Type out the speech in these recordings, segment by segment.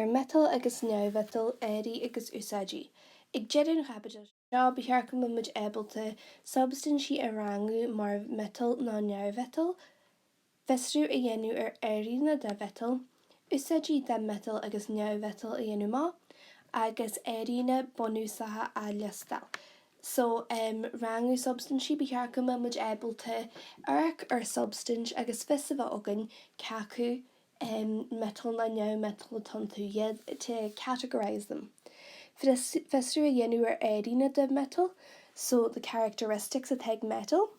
ar mhiotail agus neamh-mhiotail, airíonna agus úsáidí. Ag deireadh an chaibidil so, ba cheart go mbeimid ábalta substaintí a rangú mar mhiotail nó neamh-mhiotail, fiosrú a dhéanamh ar airíonna de mhiotail, úsáidí de mhiotail agus neamh-mhiotail a dhéanamh amach, agus airíonna bunúsacha a liostáil. So rangú substaintí, ba cheart go mbeimid ábalta amharc ar shubstaint agus fios a bheith againn cé acu metal ná neamh-metal atá iontu, to categorise them fiosrú a dhéanamh ar airíonna de metal so the characteristics atá ag metal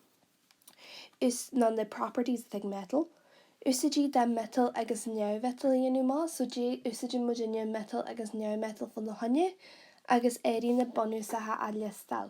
nó the properties atá ag metal úsáidí de metal agus neamh-mhetal a dhéanamh amach so cad é a úsáideann muid metal agus neamh-metal fána choinne agus airíonna bunúsacha a liostáil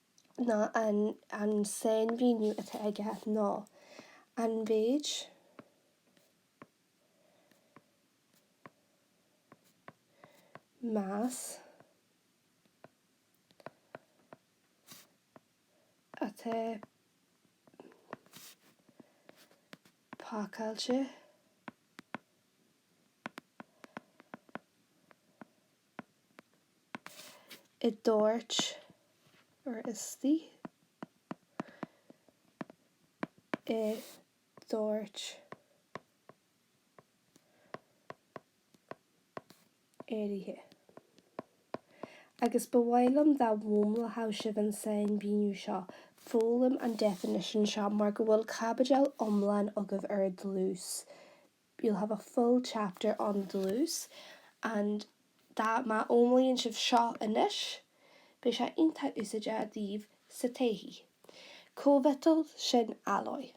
ná an sainmhíniú atá aige ná an méid mais atá pacáilte i dtoirt or istigh i dtoirt áirithe. Agus ba mhaith liom dá bhfoghlaimeodh sibh an sainmhíniú seo, foghlaim an definition seo mar go bhfuil caibidil iomlán agaibh ar dlús you'll have a full chapter on dlús and má fhoghlaíonn sibh seo anois, beidh sé iontach úsáideach daoibh sa todhchaí. Cóimhiotal sin alloy.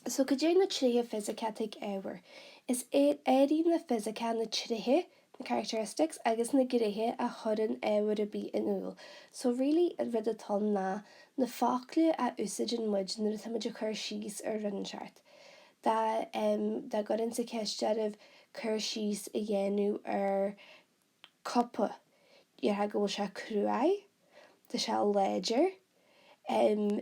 So cad é na tréithe fisiceacha atá ag ábhar? Is é airíonna fisiceacha na tréithe characteristics agus na gnéithe a chuireann ábhar ar bith in iúl. So really an rud atá ann ná na focla a úsáideann muid nuair atá muid ag cur síos ar rud inteacht. Dá dá gcuirfinnse ceist oraibh cur síos a dhéanamh ar cupa, déarfá go bhfuil sé cruaidh, tá sé láidir, em,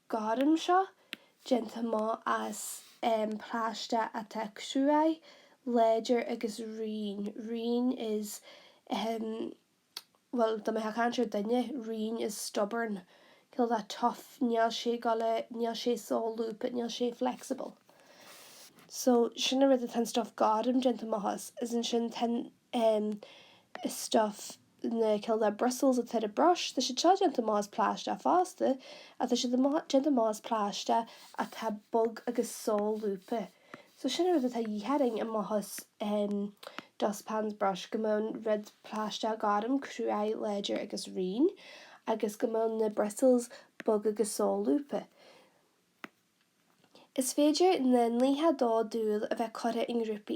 gorm seo, déanta amach as plaisteach atá cruaidh, láidir agus righin, righin is, ahem, bhuel, dá mbeifeá ag caint ar dhuine, righin is stubborn, cineál de tough, níl sé ag dul a, níl sé solúbtha, níl sé flexible. So, sin an rud atá an stuif gorm déanta amach as, is ansin tá an, ahem, stuif. na, cineál de bristles atá ar an brush, tá siad seo déanta amach as plaisteach fosta, ach tá siad déanta amach as plaisteach atá bog agus solúbtha. So sin an rud atá de dhíth orainn amach as dustpan's brush, go mbeadh an rud plaisteach gorm, crua, láidir agus righin, agus go mbeadh na bristles bog agus solúbtha. Is féidir na nithe dá dúil a bheith curtha i ngrúpaí,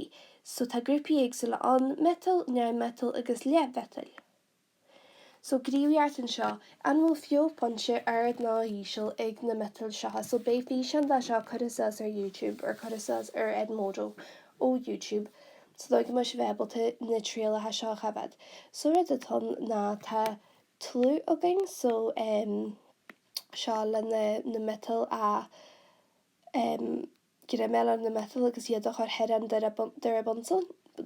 so tá grúpaí éagsúla ann, miotail, neamh-mhiotail agus leathmhiotail. So gníomhaíocht anseo, an bhfuil fiuchphointe ard ná íseal ag na miotail seo? So beidh físeán de seo curtha suas ar YouTube or curtha suas ar Edmodo ó YouTube sa dóigh go mbeidh sibh ábalta na trialacha seo a choimhéad. So an rud atá ann ná tá tlú againn so eh. seo leis na miotail a em greim a fháil ar na miotail agus iad a chur thar an dóire, dóire Bunsen,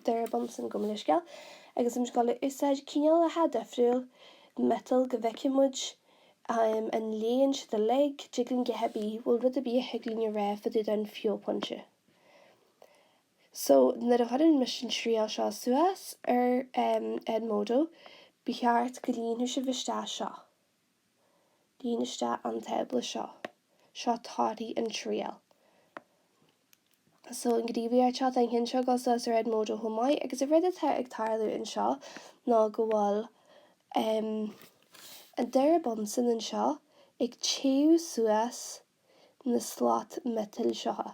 dóire Bunsen, gabh mo leithscéal, agus em 's ag gabháil a úsáid cineálacha difriúil miotail go bhfeicfidh muid em an leánn siad uilig, dtig linn, go háirithe bhfuil rud ar bith a thig linn a rá fá dtaobh den fiuchphointe so nuair a chuireann mise an triail seo suas ar em Edmodo ba cheart go líonfadh sibh isteach seo. Líon isteach an tábla seo. Seo torthaí an triail. So, an gníomhaíocht seo, tá an ceann seo ag gabháil suas ar Edmodo chomh maith, agus an rud atá ag tarlú anseo ná go bhfuil an dóire Bunsen anseo ag téamh suas na slait miotail seo.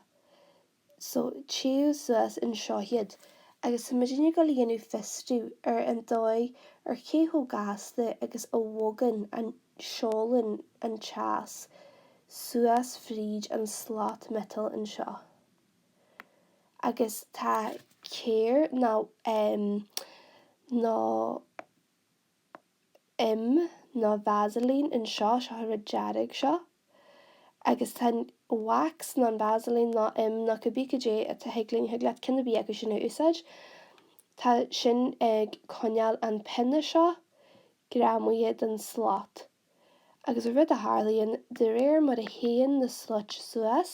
So, téitear suas anseo iad, agus tá muid inniu ag gabháil a dhéanamh fiosrú ar an dóigh ar cé chomh gasta agus a bhogann an, seolann an teas suas fríd an slat miotail anseo. Agus tá céir, nó ehm, nó. im ná Vaseline an seo, seo an rud dearg seo agus tá an wax ná an Vaseline ná im ná cibith cad é atá thig linn, thig leat ceann ar bith acu sin a úsáid, tá sin ag coinneáil an pionna seo greamaithe den slat. Agus an rud a tharlaíonn, de réir mar a théann na slait suas,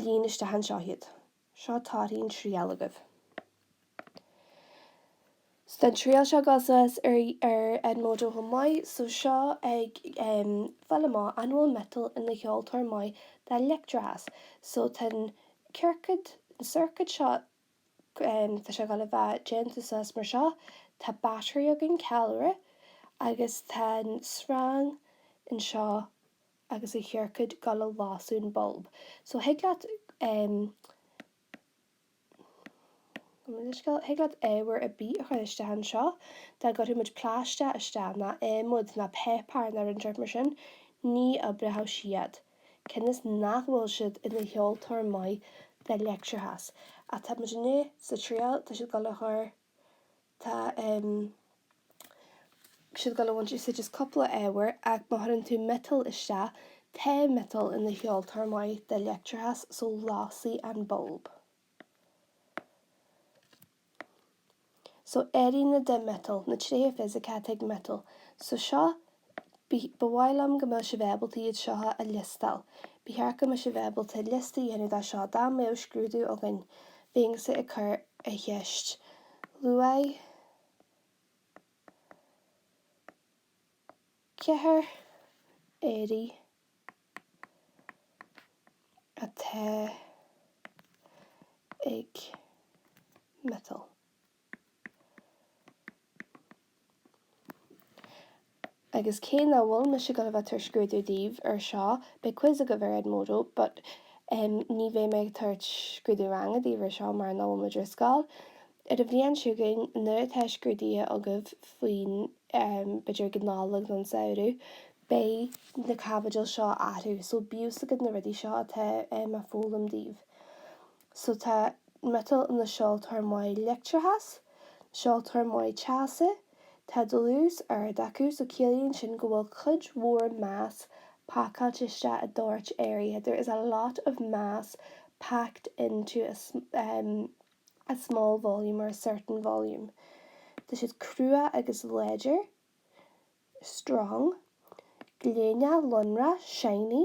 Líon isteach anseo iad. Seo torthaí an triail agaibh. So an triail seo ag gabháil suas ar ar Edmodo chomh maith. So seo ag em fáil amach an bhfuil miotal ina sheoltóir maith de leictreachas. So tá an ciorcad, an circuit seo em tá sé ag gabháil a bheith déanta suas mar seo. Tá battery againn, ceallra, agus tá an sreang anseo. agus a chiorcaid go lasann an bulb so thig leat em gabh mo leithscéal thig leat ábhar ar bith a chur isteach anseo dá gcuirfeadh muid pláistéar isteach ná adhmad ná páipeár ná rud ar bith mar sin ní oibreoidh siad cionn is nach bhfuil siad ina sheoltóir maith de leictreachas atá muid inniu sa triail tá siad ag dul a chur Tá siad ag dul a bhaint úsáid as cúpla ábhar, ach má chuireann tú miotal isteach, tá miotal ina sheoltóir maith de leictreachas, so lasfaidh an bulb. So airíonna de mhiotal, na tréithe fisiceacha ag miotal. So seo Ba mhaith liom go mbeadh sibh ábalta iad seo a liostáil. Ba cheart go mbeadh sibh ábalta liosta a dhéanamh daofa seo dá mbeadh scrúdú againn. Bheinnse ag cur an cheist luaigh ceithre airí atá ag miotal. Agus cé nach bhfuil mise ag dul a bheith ag tabhairt scrúdú daoibh air seo, beidh quiz agaibh ar Edmodo, but em ní bheidh mé ag tabhairt scrúdú ranga daoibh air seo mar nach bhfuil muid ar scoil. Ar an bhliain chugainn, nuair atá scrúduithe agaibh faoin em b'fhéidir ag an Nollaig nó an samhradh, beidh na caibidil seo orthu, so bíodh a fhios agat na rudaí seo atá em á foghlaim daoibh. so tá miotal na seoltóir maith leictreachais, na seoltóir maith teasa, tá dlús ard acu so ciallaíonn sin go bhfuil cuid mhór mass pacáilte isteach i dtoirt áirithe, there is a lot of mass packed into a, em, a small volume or a certain volume. Tá siad crua agus láidir, strong. Gléineach, lonrach, shiny.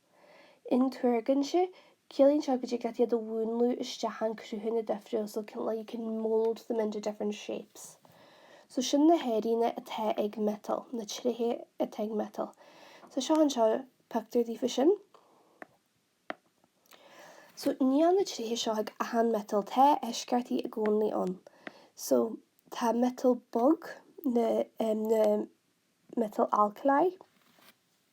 intuargainte, ciallaíonn seo go dtig leat iad a mhúnlú isteach i gcruthanna difriúla so like you can mold them into different shapes so sin na hairíonna atá ag miotal, na tréithe atá ag miotal so seo anseo pictiúr daofa sin so níl na tréithe seo ag achan miotal tá eisceachtaí i gcónaí ann so tá miotal bog na, na miotal alkali.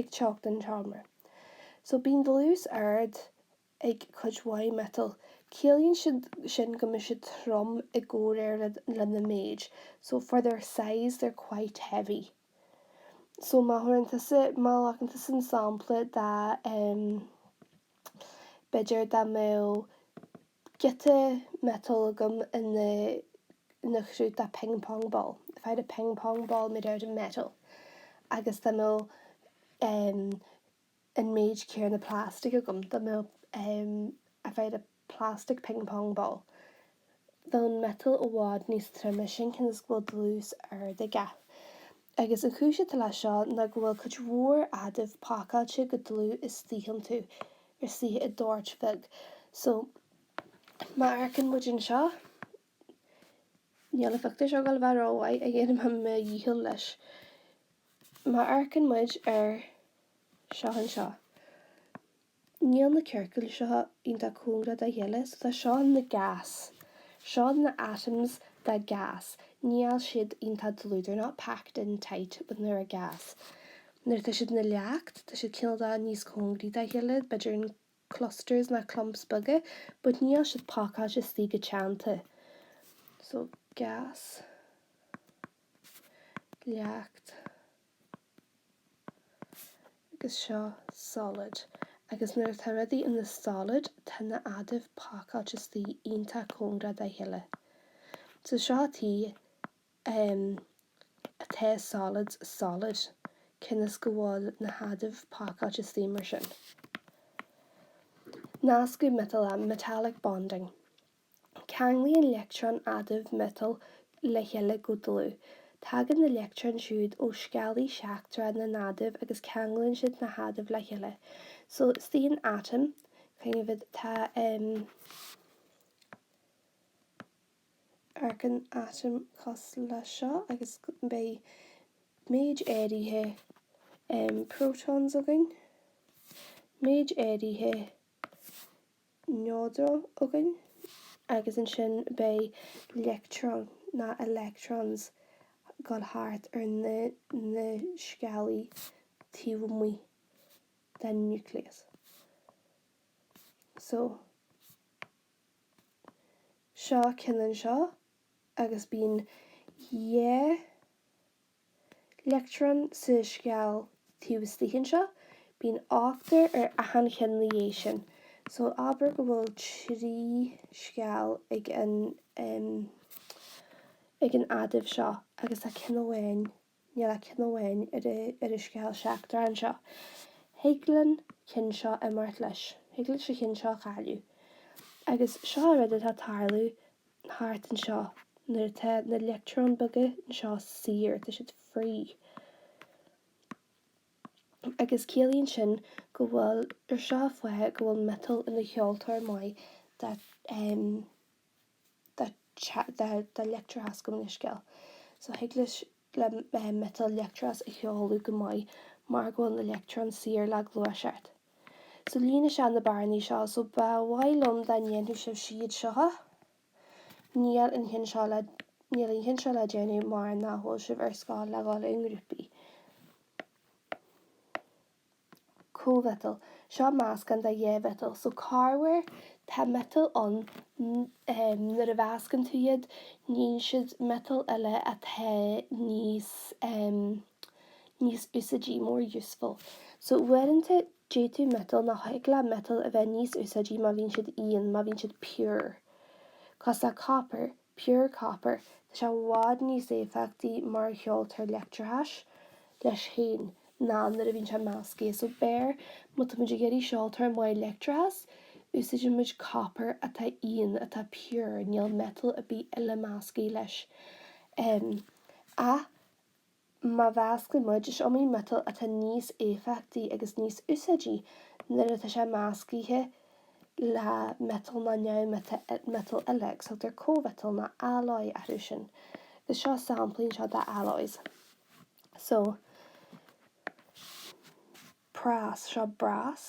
ag teocht an tseomra. So bíonn dlús ard ag cuid mhaith miotal. Ciallaíonn sin go mbeidh siad trom i gcomhréir lena méid. So for their size they're quite heavy. So má thabharann tusa, má ghlacann tusa an sampla de, b'fhéidir dá mbeadh, giota miotail agam ina ina chruth de ping pong ball, if I had a ping pong ball made out of metal agus dá mbeadh em an méid céanna plastic agam, dá mbeadh em if I had a plastic ping pong ball bheadh an miotal i bhfad níos troime sin cionn is go bhfuil dlús ard aige. Agus an chúis atá leis seo ná go bhfuil cuid mhór adaimh pacáilte go dlúth istigh iontu, istigh i dtoirt bheag. So, má amharcann muid anseo, níl an phictiúr seo ag dul a bheith rómhaith, ach dhéanfaidh mé mo dhícheall leis. Má amharcann muid ar seo anseo. Níl na ciorcail seo iontach cóngarach dá chéile, so tá seo ina ghás, seo na atoms de gás, níl siad iontach dlúth, they're not packed in tight when they're a gas, nuair atá siad ina leacht, tá siad cineál de níos cóngaraí dá chéile, b'fhéidir in clusters ná clumps beaga, but níl siad pacáilte istigh go teannta. So gás, leacht. Agus seo Solid. Agus nuair atá rudaí ina solid, tá na adaimh pacáilte istigh iontach cóngarach dá chéile. So seo tuige em atá solids solid, cionn is go bhfuil na hadaimh pacáilte istigh mar sin. Nascadh miotalach, metallic bonding. Ceanglaíonn leictreoin adaimh miotail le chéile go dlúth. Tagann na leictreoin siúd ó sceallaí seachtracha na n-adamh agus ceanglaíonn siad na hadaimh le chéile. So istigh in atom, kind of tá em amharcann atom cosúil le seo agus beidh méid áirithe em protons againn, méid áirithe neodróin againn agus ansin beidh leictreoin, ná electrons, ag dul thart ar na na sceallaí taobh amuigh den núicléas. So, seo an ceann anseo agus bíonn dhá leictreon sa sceall taobh istigh anseo, bíonn ochtar ar achan cheann ina dhiaidh sin. So abair go bhfuil trí sceall ag an, em, ag an adamh seo agus tá ceann amháin, níl ach ceann amháin ar an, ar an sceall seachtrach anseo. Thig leis an cheann seo imeacht leis, thig leis an cheann seo a chailleadh. Agus seo an rud atá ag tarlú thart anseo, nuair atá na leictreoin beaga anseo saor, tá siad free. Agus ciallaíonn sin go bhfuil, or seo an fáth, go bhfuil miotal ina sheoltóir maith de, de, de leictreachas, gabh mo leithscéal. So thig leis le miotal leictreachas a sheoladh go maith mar go bhfuil na leictreoin saor le gluaiseacht. So líon isteach na bearnaí seo, so ba mhaith liom dá ndéanfadh sibh iad seo. Níl an ceann seo le, níl an ceann seo le déanamh mar nach bhfuil sibh ar scoil le dhul i ngrúpaí. cóimhiotal. Seo meascán de dhá mhiotal, so corruair tá miotail ann nuair a mheascann tú iad níonn siad miotail eile atá níos níos úsáidí, more useful. So uaireanta d'fhéadfadh miotal nó thig le miotal a bheith níos úsáidí má bhíonn siad íon, má bhíonn siad pure. Cosúil le copper, Pure Copper, tá sé i bhfad níos éifeachtaí mar sheoltóir leictreachais leis féin ná nuair a bhíonn sé measctha. So abair, má tá muid ag iarraidh seoltóir maith leictreachais, úsáideann muid copper atá íon, atá pure, níl metal ar bith eile measctha leis. Ach. Má mheascann muid, is iomaí miotal atá níos éifeachtaí agus níos úsáidí nuair atá sé meascaithe le miotal nó neamh-mhiotal eile, agus tugtar cóimhiotal nó alloy orthu sin. Agus seo samplaí anseo de alloys. So prás, seo brass.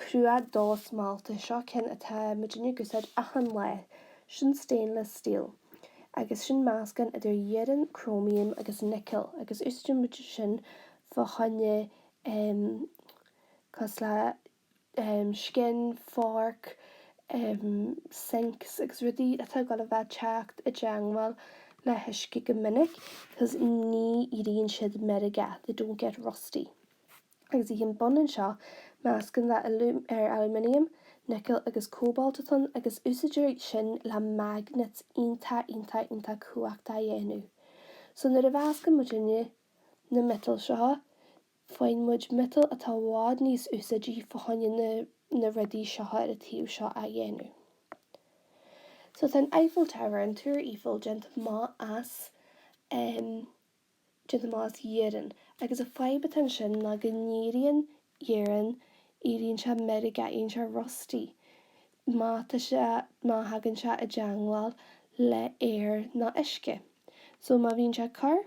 cruach dosmálta, seo ceann atá muidinne ag úsáid achan lá, sin stainless steel, agus sin meascán idir iarann, cróimiam agus nicil, agus úsáideann muid é sin fá choinne ehm. cosúil le ehm. scian, forc, ehm. sinks agus rudaí atá ag dul a bheith teacht i dteangmháil le huisce go minic, cos ní éiríonn siad meirgeach, they don't get rusty. agus an ceann bun anseo, meascán idir aluminium, nicil agus cóbalt atá ann, agus úsáidtear iad sin le magnets iontach iontach iontach cumhachtach a dhéanamh. So nuair a mheascann muidinne na miotail seo, faigheann muid miotail atá i bhfad níos úsáidí fá choinne na na rudaí seo ar an taobh seo a dhéanamh. So tá an Eiffel Tower, an Túr Eiffel, déanta amach as ehm, déanta amach as iarann, agus an fhadhb atá ansin ná go n-éiríonn iarann, éiríonn sé meirgeach, éiríonn sé rusty má tá sé, má thagann sé i dteangmháil le aer nó uisce. So má bhíonn sé ag cur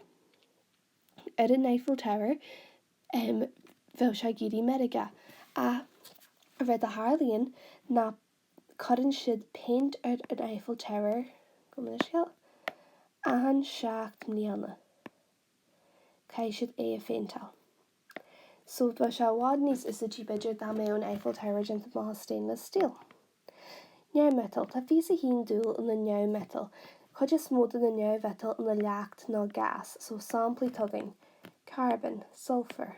ar an Eiffel Tower, em, bheadh sé ag éirí meirgeach. Ach, cad é a tharlaíonn ná cuireann siad péint ar an Eiffel Tower go minic, scéal achan seacht mbliana caithfidh siad é a phéinteáil. So bheadh sé i bhfad níos úsáidí b'fhéidir dá mbeadh an Eiffel Tower déanta amach as stainless steel. Neamh-mhiotail, tá fiche is a haon dúil ina neamh-mhiotail, cuid is mó de na neamh-mhiotail ina leacht nó gás, so samplaí atá againn, carbon, sulphur,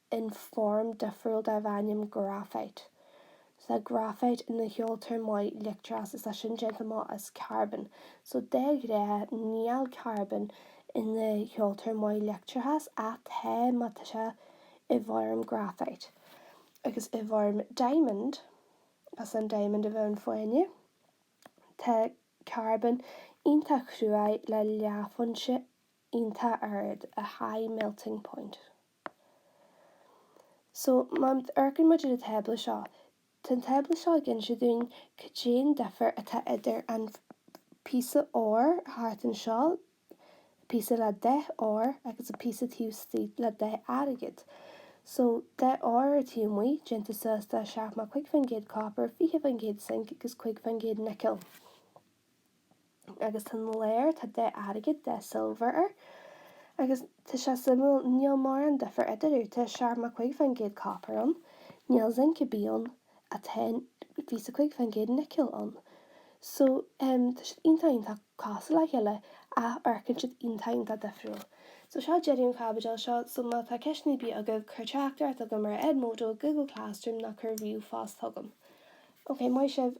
in form difriúil darb ainm graphite. Tá graphite ina sheoltóir maith leictreachais, is tá sin déanta amach as carbón, so de ghnáth níl carbón ina sheoltóir maith leictreachais, ach tá má tá sé i bhfoirm graphite. Agus i bhfoirm diamond, as an diamond a bheadh in fáinne, tá carbón iontach cruaidh le leáphointe iontach ard, a high melting point. So, má amharcann muid ar an tábla seo, tá an tábla seo ag inse dúinn cad é an difear atá idir an píosa óir thart anseo, an píosa le dath óir, agus an píosa taobh istigh le dath airgid. So, dath óir ar taobh amuigh, déanta suas de 75 faoin gcéad copar, 20 faoin gcéad zinc agus 5 faoin gcéad nicil. agus tá an lár, tá dath airgid, dath silver air. Agus tá sé suimiúil, níl mórán difir eatarthu. Tá seachtó a cúig fán gcéad copper ann. Níl zinc ar bith ann. Tá fiche is a cúig fán gcéad nickel ann. So, tá siad iontach iontach cosúil le chéile, ach amharcann siad iontach iontach difriúil. So, seo deireadh an chaibidil seo. So, má tá ceisteanna ar bith agaibh, cuir teachtaireacht chugam ar Edmodo, Google Classroom, nó cuir ríomhphost chugam. Ok, maith sibh.